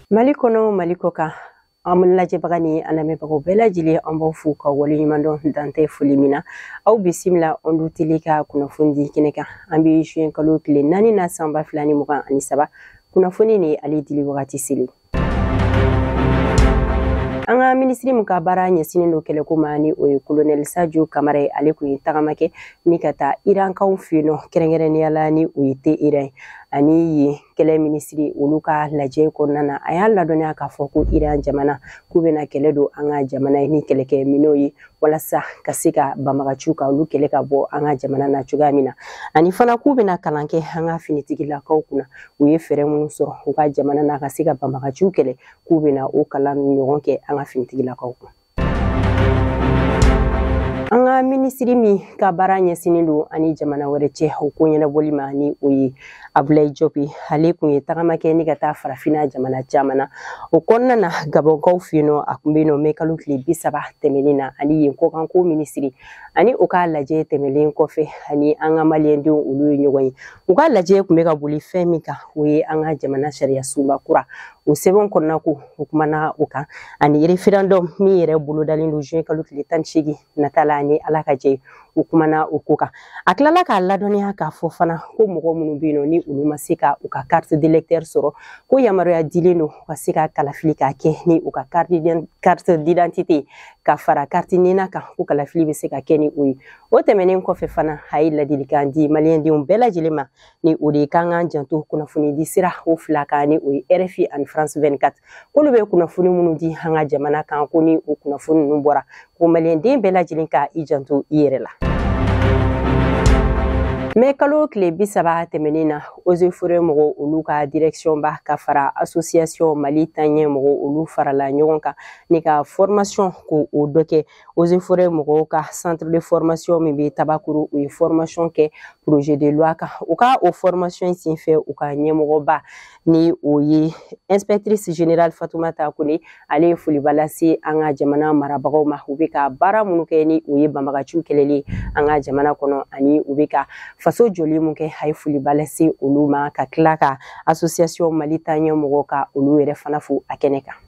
mali kɔnɔ mali kɔ kan an lajɛbaga ni an lamɛnbagaw bɛɛ lajɛlen an b'aw fo ka wale ɲuman dɔn dan tɛ foli min na aw bisimila ɔndu tele ka kunnafoni di kɛnɛ kan an bɛ juin kalo tile naani na san ba fila ni mugan ani saba kunnafoni ni ale dili wagati selen an ka minisiri min ka baara ɲɛsinnen don kɛlɛko ma ni o ye kolonɛli sajo kamara ye ale kun ye tagama kɛ ni ka taa irankaw fɛ yen nɔ kɛrɛnkɛrɛnnenya la ni o ye teheran ye ani yen kɛlɛ minisiri olu ka lajɛ kɔnɔna na a y'a ladɔnniya k'a fɔ ko iran jamana k'u bɛna kɛlɛ don an ka jamana ye ni kɛlɛkɛ minɛnw ye walasa ka se ka banbagaciw ka olu kɛlɛ ka bɔ an ka jamana na cogoya min na ani fana k'u bɛna kalan kɛ an ka finitigilakaw kunna u ye fɛɛrɛ minnu sɔrɔ u ka jamana na ka se ka banbagaciw kɛlɛ k'u bɛna o kalan ɲɔgɔn kɛ an ka finitigilakaw kun an ka minisiri min ka baara ɲɛsinnen don an ni jamana wɛrɛ cɛ o ko ɲɛnabɔli ma ni o ye abulayi jopi ale kun ye tagama kɛ ni ka taa farafinna jamana caman na o kɔnɔna na gabɔnkaw fɛ yen nɔ a kun bɛ yen nɔ mɛ kalo tile bi saba tɛmɛnen na ani yen kɔkanko minisiri ani u ka lajɛ tɛmɛlen kɔfɛ ani an ka maliyɛndenw olu ye ɲɔgɔn ye u ka lajɛ kun bɛ ka boli fɛn min kan o ye an ka jamana sariya sunba kura o sɛbɛn kɔnɔna ko u kumana o kan ani referendum min yɛrɛ bolodalen don juin kalo tile tan ni seegin nata la ni ala ka jɛ u kumana o ko kan a tilala k'a ladɔnniya k'a fɔ fana ko mɔgɔ minnu bɛ yen nɔ ni olu ma se ka u ka carte d'électeur sɔrɔ ko yamaruya dilen don u ka se ka kalafili k'a kɛ ni u ka carte d'identité ka fara carte nina kan ko kalafili bɛ se ka kɛ ni o ye o tɛmɛnen kɔfɛ fana a ye ladilikan di maliyɛndenw bɛɛ lajɛlen ma ni o de ye k'an k'an janto kunnafonidi sira o fila kan ni o ye rfi ani france 24 k'olu bɛ kunnafoni minnu di an ka jamana kan ko ni o kunnafoni ninnu bɔra ko maliyɛnden bɛɛ lajɛlen ka i janto i yɛrɛ la mɛ kalo tile bi saba tɛmɛnen na eaux et forêts mɔgɔ olu ka directionba ka fara association mali taɲɛ mɔgɔ olu farala ɲɔgɔn kan ni ka formation ko o dɔ kɛ eaux et forêts mɔgɔw ka centre de formation min bɛ tabakoro u ye formation kɛ projet de loi kan u ka o formation sen fɛ u ka ɲɛmɔgɔba ni o ye inspectrice générale fatumata kone ale ye foliba lase an ka jamana marabagaw ma u bɛ ka baara minnu kɛ ni o ye banbagaciw kɛlɛli an ka jamana kɔnɔ ani u bɛ ka faso jɔli min kɛ a ye foliba lase olu ma ka tila ka association mali taɲɛ mɔgɔ ka olu yɛrɛ fana fo a kɛnɛ kan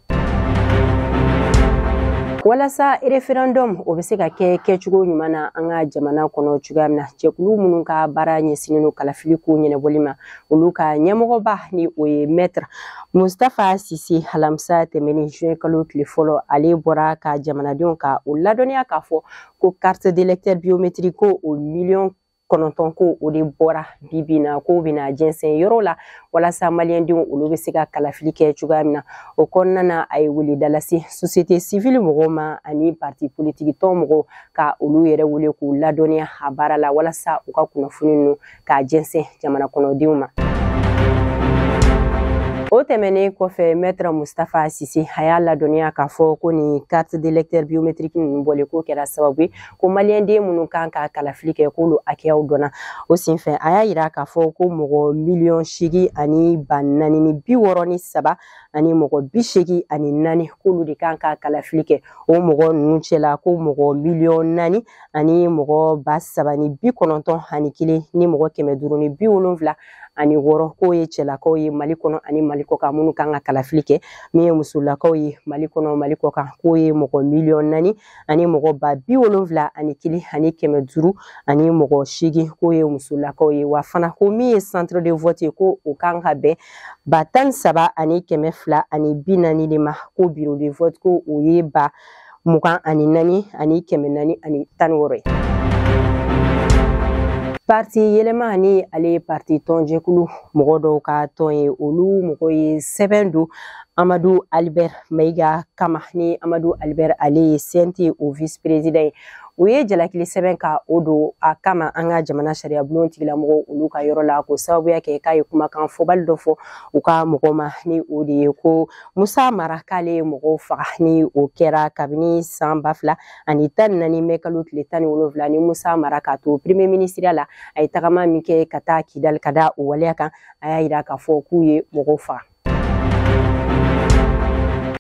walasa referendum o bɛ se ka kɛ kɛcogo ɲuman na an ka jamana kɔnɔ cogoya min na jɛkulu minnu ka baara ɲɛsinnen don kalafili ko ɲɛnabɔli ma olu ka ɲɛmɔgɔba ni o ye maître mustafa sise alamisa tɛmɛnen juin kalo tile fɔlɔ ale bɔra ka jamanadenw ka o ladɔnniya k'a fɔ ko carte d'électeur biométrique ko o miliyɔn kɔnɔntɔn ko o de bɔra bibi na k'o bɛna jɛnsɛn yɔrɔ la walasa maliyɛndenw olu bɛ se ka kalafili kɛ cogoya min na o kɔnɔna na a ye weleda lase sosiyete sivili mɔgɔw ma ani parti politikitɔn mɔgɔw ka olu yɛrɛ wele k'u ladɔnniya a baara la walasa u ka kunnafoni ninnu k'a jɛnsɛn jamana kɔnɔdenw ma o tɛmɛnen kɔfɛ maître mustafa sise a y'a ladɔnniya k'a fɔ ko nin carte d'électeur biométrique ninnu bɔlen k'o kɛra sababu ye ko maliyɛnden minnu kan ka kalafili kɛ k'olu hakɛyaw dɔnna o senfɛ a y'a yira k'a fɔ ko mɔgɔ miliyɔn seegin ani ba naani ni bi wɔɔrɔ ni saba ani mɔgɔ bi seegin ani naani k'olu de kan ka kalafili kɛ o mɔgɔ ninnu cɛla ko mɔgɔ miliyɔn naani ani mɔgɔ ba saba ni bi kɔnɔntɔn ani kelen ni mɔgɔ kɛmɛ duuru ni bi wolonfila ani wɔɔrɔ k'o ye cɛlakaw ye mali kɔnɔ ani mali kɔkan minnu kan ka kalafili kɛ min ye musolakaw ye mali kɔnɔ mali kɔkan k'o ye mɔgɔ miliyɔn naani ani mɔgɔ ba bi wolonfila ani kelen ani kɛmɛ duuru ani mɔgɔ seegin k'o ye musolakaw ye wa fana ko min ye centre de vote ye ko o kan ka bɛn ba tan ni saba ani kɛmɛ fila ani bi naani de ma ko bureau de vote ko o ye ba mugan ani naani ani kɛmɛ naani ani tan ni wɔɔrɔ ye. Parti yɛlɛma ni ale ye parti tɔnjɛkulu mɔgɔ dɔw ka tɔn ye olu mɔgɔ ye sɛbɛn don Amadu Albert Maiga kama ni Amadu Albert ale ye CNT o vice président ye u ye jalakili sɛbɛn ka o don a kama an ka jamana sariyabulon tigilamɔgɔw olu ka yɔrɔ la ko sababu y'a kɛ k'a ye kumakan fɔbali dɔ fɔ u ka mɔgɔ ma ni o de ye ko musa mara k'ale ye mɔgɔw faga ni o kɛra kabini san ba fila ani tan ni naani mɛ kalo tile tan ni wolonwula ni musa mara k'a to premier minisiriya la a ye tagama min kɛ ka taa kidali ka da o waleya kan a y'a yira k'a fɔ k'u ye mɔgɔw faga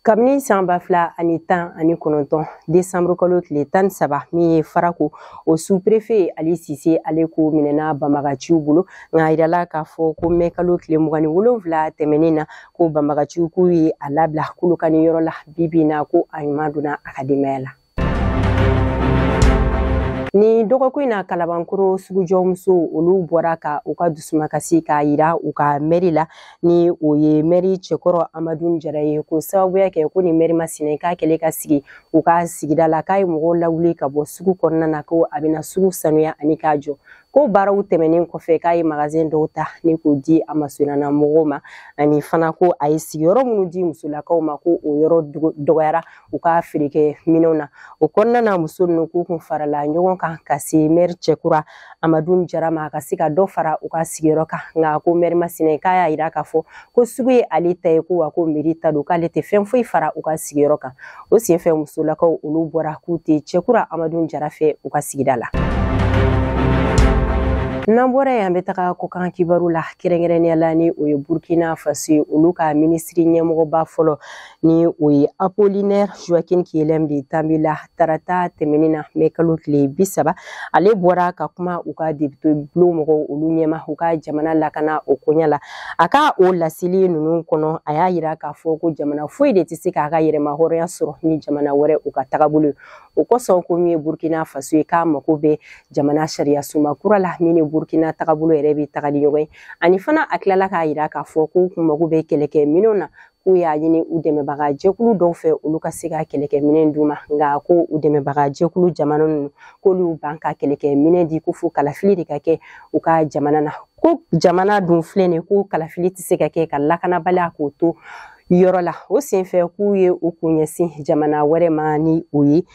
kabini san ba fila ani tan ani kɔnɔntɔn desanburu kalo tile tan ni saba min ye farako o sous-préfet ali sise ale ko minɛna banbagaciw bolo nka a yirala k'a fɔ ko mɛ kalo tile mugan ni wolonfila tɛmɛnen na ko banbagaciw k'u ye a labila kolokani yɔrɔ la bibi na ko a ɲuman donna a ka denbaya la Nin dɔgɔkun in na kalabankoro sugujɔmusow olu bɔra ka u ka dusumakasi k'a yira u ka mɛri la ni o ye mɛri cɛkɔrɔ amadun jara ye ko sababu y'a kɛ ko nin mɛri masina k'a kɛlen ka sigi u ka sigida la k'a ye mɔgɔw lawuli ka bɔ sugu kɔnɔna na ko a bɛna sugu sanuya ani k'a jɔ Ko baaraw tɛmɛnen kɔfɛ k'a ye magazin dɔw ta ni k'o di a masurunna mɔgɔw ma ani fana ko a ye sigiyɔrɔ minnu di musolakaw ma ko o yɔrɔ dɔgɔyara u ka feerekɛ minɛnw na o kɔnɔna na muso ninnu k'u kun farala ɲɔgɔn kan ka se mɛri cɛkura amadu jara ma a ka se ka dɔ fara u ka sigiyɔrɔ kan nka ko mɛri masina k'a y'a yira k'a fɔ ko sugu ye ale ta ye ko wa ko meri ta don k'ale tɛ fɛn foyi fara u ka sigiyɔrɔ kan o senfɛ musolakaw olu bɔra k'u tɛ cɛkura amadu jara fɛ u ka sigida la n'an bɔra yen an bɛ taga kɔkan kibaru la kɛrɛnkɛrɛnnenya la ni o ye burkina faso ye olu ka minisiri ɲɛmɔgɔba fɔlɔ ni o ye apolinɛr joakin kelɛm de tanbɛla tarata tɛmɛnin na mɛ kalo tile bi saba ale bɔra ka kuma u ka depite bulon mɔgɔw olu ɲɛma u ka jamana lakana o koɲa la a ka o laseli ninnu kɔnɔ a y'a yira k'a fɔ ko jamana foyi de tɛ se k'a ka yɛrɛmahɔrɔnya sɔrɔ ni jamana wɛrɛw ka tagabolo o kosɔn ko min ye burkina faso ye k'a mako bɛ jamana sariyasunba kura la min ni burkina tagabolo yɛrɛ bɛ taga ni ɲɔgɔn ye ani fana a tilala k'a yira k'a fɔ k'u kun mago bɛ kɛlɛkɛ minɛnw na k'u y'a ɲini u dɛmɛbaga jɛkulu dɔw fɛ olu ka se ka kɛlɛkɛminɛn d'u ma nka ko u dɛmɛbaga jɛkulu jamana ninnu k'olu ban ka kɛlɛkɛminɛn di ko fo kalafili de ka kɛ u ka jamana na ko jamana dun filɛ nin ko kalafili tɛ se ka kɛ ka lakanabaliya k'o to yɔrɔ la o senfɛ k'u ye u kun ɲɛsin jamana wɛrɛ ma ni o ye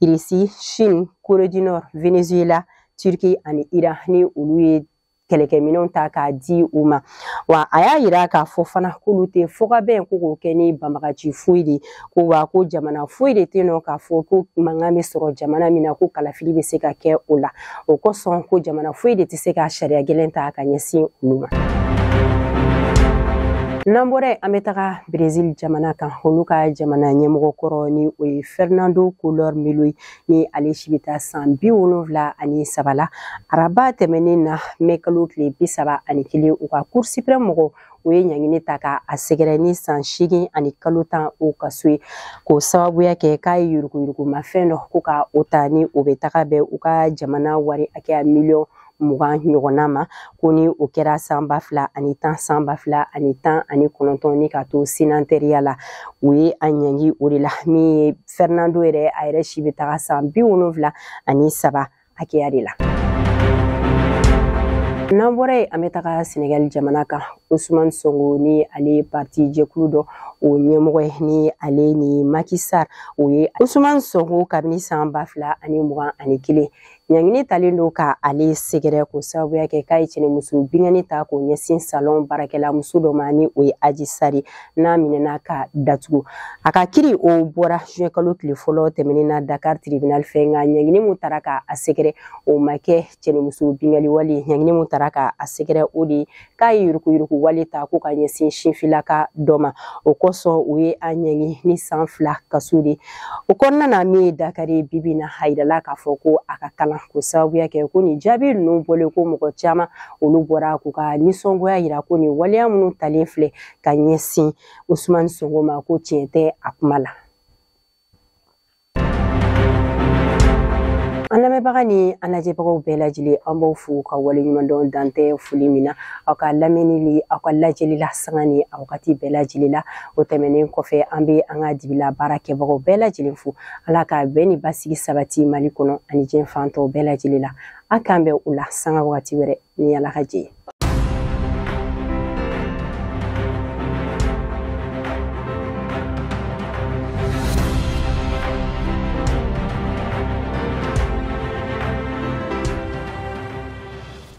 irisi chine corée du nord venezuela turki ani iran ni olu ye kɛlɛkɛminɛnw ta k'a di u ma wa a y'a yira k'a fɔ fana k'olu tɛ fɔkabɛn ko k'o kɛ ni banbagaci foyi de ko wa ko jamana foyi de tɛ nɔ k'a fɔ ko mankan bɛ sɔrɔ jamana min na ko kalafili bɛ se ka kɛ o la o kosɔn ko jamana foyi de tɛ se ka sariya gɛlɛn ta ka ɲɛsin olu ma. n'an bɔra yen an bɛ taga brezil jamana kan olu ka jamana ɲɛmɔgɔ kɔrɔ ni o ye fernando collor melo ye ni ale si bɛ taa san bi wolonfila ani saba la araba tɛmɛnen na mɛ kalo tile bi saba ani kelen u ka cour suprême mɔgɔw ye ɲangini ta ka a sɛgɛrɛ ni san seegin ani kalo tan o kaso ye k'o sababuya kɛ k'a ye yuruguyurugumafɛn dɔ ko ka o ta ni o bɛ taga bɛn u ka jamana wari hakɛya miliyɔn mugan ɲɔgɔnna ma ko ni o kɛra san ba fila ani tan san ba fila ani tan ani kɔnɔntɔn ni ka to senatɛriya la u ye a ɲangi o de la min ye fɛrinando yɛrɛ a yɛrɛ si bɛ taga san bi wolonfila ani saba hakɛya de la n'an bɔra yen an bɛ taga sɛnɛgali jamana kan osumani sonko ni ale ye parti jɛkulu dɔ o ɲɛmɔgɔ ye ni ale ni maki sal o ye osumani sonko kabini san ba fila ani mugan ani kelen Ɲangini talen don ka ale sɛgɛrɛ k'o sababuya kɛ k'a ye cɛnimuso binkanni ta k'o ɲɛsin salon baarakɛla muso dɔ ma ni o ye aji sari n'a minɛna ka datugu a ka kiri o bɔra juin kalo tile fɔlɔ tɛmɛnen na dakar tribunal fɛ nka ɲangini min tara ka a sɛgɛrɛ o ma kɛ cɛnimuso binkali wale ɲangini min tara ka a sɛgɛrɛ o de k'a ye yuruguyurugu wale ta ko ka ɲɛsin sinfilaka dɔ ma o kosɔn u ye a ɲangi ni san fila kaso de o kɔnɔna na min ye dakari ye bi bi na a yirala k'a fɔ ko a ka kalan k'o sababuya kɛ ko nin jaabi ninnu bɔlen kɔ mɔgɔ caman olu bɔra k'u ka nisɔngoya yira ko nin waleya minnu talen filɛ ka ɲɛsin usumani sonko ma ko tiɲɛ tɛ a kuma la an lamɛnbaga ni an lajɛbagaw bɛɛ lajɛlen an b'aw fo ka waleɲumandɔn dan tɛ foli min na aw ka lamɛnni ni aw ka lajɛli la sanga ni a wagati bɛɛ lajɛlen la o tɛmɛnen kɔfɛ an bɛ an ka dibila baara kɛbagaw bɛɛ lajɛlen fo ala ka bɛn ni basigi sabati mali kɔnɔ ani diɲɛ fan tɔw bɛɛ lajɛlen la a k'an bɛn u la sanga wagati wɛrɛ ni ala ka jɛ